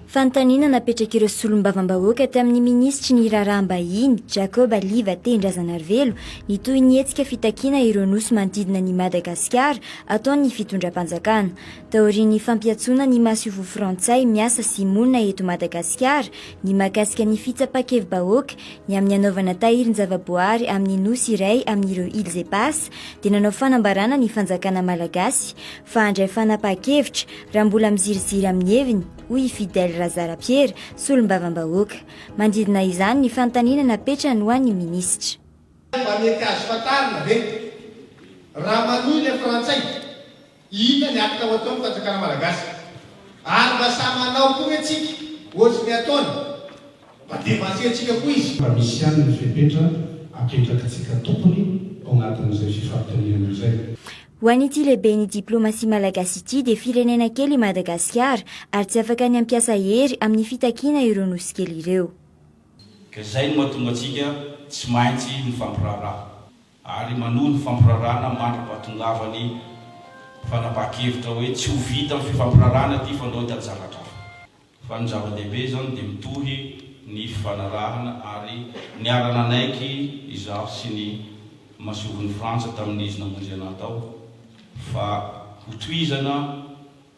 Fanontaniana napetrak'ireo solombavambahoaka tamin'ny minisitry ny raharaham-bahiny Jacob Aliva Tendrazanarivelo ny toy ny hetsika fitakiana ireo nosy manodidina ny Madagasikara ataon'ny fitondram-panjakana. Taorian'ny fampiantsoana ny masoivoho frantsay miasa sy monina eto Madagasikara ny mahakasika ny fitsapan-kevi-bahoaka Ny amin'ny hanaovana tahirin-javaboahary amin'ny nosy iray amin'ireo Îles Éparses dia nanao fanambarana ny fanjakana malagasy fa handray fanapahan-kevitra raha mbola miziriziry amin'ny heviny, hoy i Fidèle Razarapiera, solombavambahoaka. Manodidina izany ny fanontaniana napetrany ho an'ny minisitra. Mba mety azo fantarina ve raha manohy ilay Frantsay? Inona ny acte ho ataon'ny fanjakana malagasy? Ary mba sahy manao koa ve tsika ohatry ny ataony? Mba devansehitsika koa izy. Fa misy ihany ny fepetra apetrakitsika tompony ao anatin'izay fifampitaniana izay. Ho an'ity lehiben'ny diplomasia malagasy ity dia firenena kely i Madagasikara ary tsy afaka ny hampiasa hery amin'ny fitakiana ireo nosy kely ireo. Ka izay no mahatonga antsika tsy maintsy mifampiraharaha. ary manohy ny fampirarana mandra-pahatongavany fanapahan-kevitra hoe tsy ho vita ny fifampirarana ity fa ndao hitady zavatra hafa. Fa ny zava-dehibe izany dia mitohy ny fifanarahana ary niara-nanaiky izaho sy ny Masoivohon'i Frantsa tamin'izy namonjy anah tao fa hotohizana,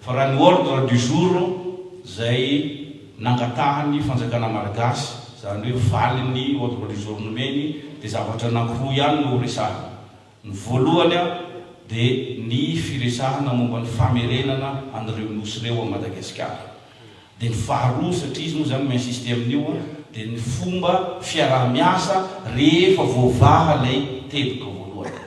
Fa raha ny ordre du jour izay nangatahan'ny fanjakana malagasy, izany hoe valin'ny ordre du jour nomeny, dia zavatra anankiroa ihany no horesahina. Ny voalohany dia ny firesahana momba ny famerenana an'ireo nosy ireo ao Madagasikara. Dia ny faharoa, satria izy moa izany mi-insister amin'io, dia ny fomba fiaraha-miasa rehefa voavaha ilay teboka voalohany.